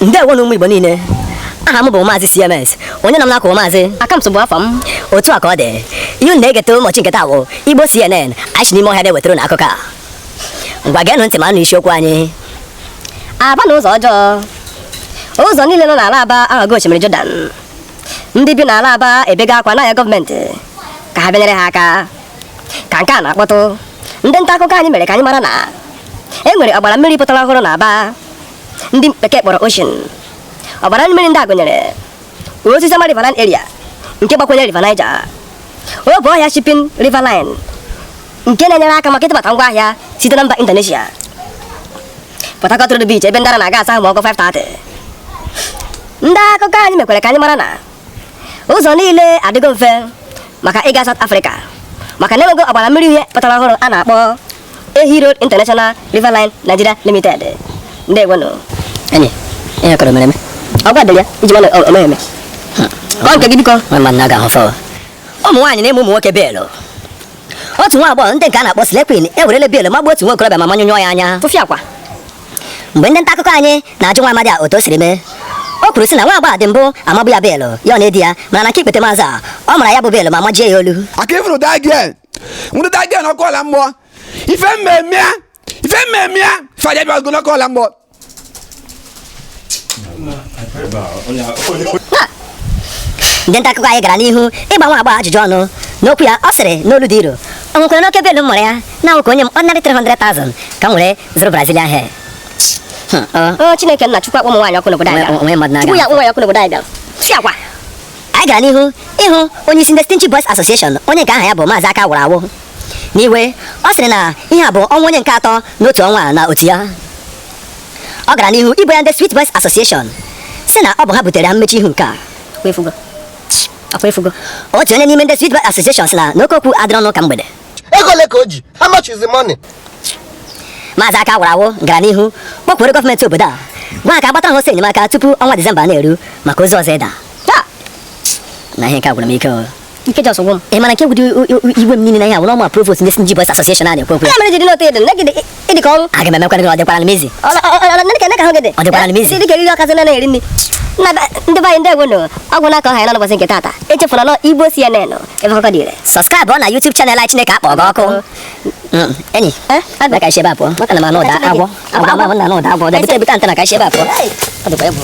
ndewonụ ụmụ igbo niile aha m bụ maazị cms onye nọ m n'akụkụ maazị akamtụ bụ afọ m otu a ka ọ dị ihe unu na-egete ụbọchị nke taa bụ igbo cnn anyị si n'ime ọhịa na-ewetara unu akụkọ a ngwa geenụ ntị ma nụ isiokwu anyị aba na ụzọ ọjọọ ụzọ niile nọ n'ala aba aghọgo osimiri jọdan ndị bi n'ala aba ebega akwa na-ayọ gọọmenti ka ha bịa nyere ha aka ka nke a na-akpọtụ ndị nta akụkọ anyị mere ka anyị mara na e nwere ọgbara mmiri pụtara ọhụrụ na Aba ndị bekee kpọrọ ocean ọgbara mmiri ndị a gụnyere Osisioma riverine area nke gbakwunye river Niger Obohia shipping river line nke na-enyere aka maka ịtụbata ngwa ahịa site na mba Indonesia Port Harcourt Road Beach ebe ndị ara na-aga asa ahụ ma ọ kụọ 5:30 ndị akụkọ anyị mekwere ka anyị mara na ụzọ niile adịgo mfe maka ịga South Africa maka na enwego ọgbara mmiri uhie pụtara ọhụrụ a na-akpọ Ehi Road International River Line Nigeria Limited ndị egwenụ enyi ihe kọrọ mere eme ọ gwadịrị ya iji mana o meghị eme kọọ nke gị biko nwa mmadụ na-aga ahụ fọwọ ụmụ nwaanyị na-ama ụmụ nwoke beelụ otu nwa agbọghọ ndị nke a na-akpọ Slay Queen ewerele beelụ magbuo otu nwa okorobịa ma manyụnyụọ ya anya tụfịakwa mgbe ndị nta akụkọ anyị na-ajụ nwa amadi a otu o siri mee o kwuru sị na nwa agbọghọ a dị mbụ amabu ya beelụ ya ọ na-edi ya mana na nke ikpetemazụ a ọ mara ya bụ beelụ ma majie ya olu aka ifuru that girl nwụrụ that girl ọkụ ala mmụọ ife mmemme ya ife mmemme ya ife aja bịa ogologo ala mmụọ ndị nta akụkọ anyị gara n'ihu ịgba nwa agbọghọ ajụjụ ọnụ n'okwu ya ọ sịrị n'olu dị nro o nwekwaranụ oke beelụ m mara ya na ọ wụ ka o nye m ordinary 300,000 ka m were zụrụ brazilian hair Hmm, ọ- o chineke nna chukwu akpọ ụmụ nwaanyị ọkụ n'obodo anyị Onwe- onwe mmadụ bịara. na-aga. chukwu ya akpọ nwaanyị ọkụ n'obodo anyị bịara chi akwa anyị gara n'ihu ịhụ onye isi ndị stingy boys association onye nke aha ya bụ maazị aka wụrụ awụ n'iwe ọ sịrị na ihe a bụ ọnwụ onye nke atọ n'otu ọnwa a na otu ya Ọ gara n'ihu ibo ya ndị Sweet Boys Association sị na ọ bụ ha butere ha mmechi ihu nke a. Otu onye n'ime ndị Sweet Boys Association sị na oke okwu adịrọ n'ụka mgbede. Ego ole ka o ji? How much is the money? Maazị aka wụrụ awụ gara n'ihu kpọkwuoro gọọmenti obodo a gwa ha ka ha gbatara ha ọsọ enyemaka tupu ọnwa Disemba na-eru maka ozu ọzọ ịda. Nna ihe nke a gwụrụ m ike o. nke jọs gwụ m ị mana nke gwụdị iwe m niile na ihe a wụ n'ọma provost ndị Stingy Boys Association a na-ekwu okwu ya mere jiri n'otu ịdị nne gị ịdị ka ọrụ aga m emekwa gị ọ dịkwara m easy ọ dịkwara m easy dị ka eriri ọkazị na na-eri nri ndị be anyị ndị egwu nụ ọ gwụna ka ọ ha ya n'ụbọchị nke taata echefuna na ọ igbo cnn ebe akụkọ dị ire sọskraịbụọ na youtube channel anyị chineke akpọ gị ọkụ enyia bịa ka ebe a pụọ maka na m anụ ụda agwọ agwọ ma m na anụ ụda agwọ bịa bute bute antena ka ebe a pụọ ọ dịkwa egwu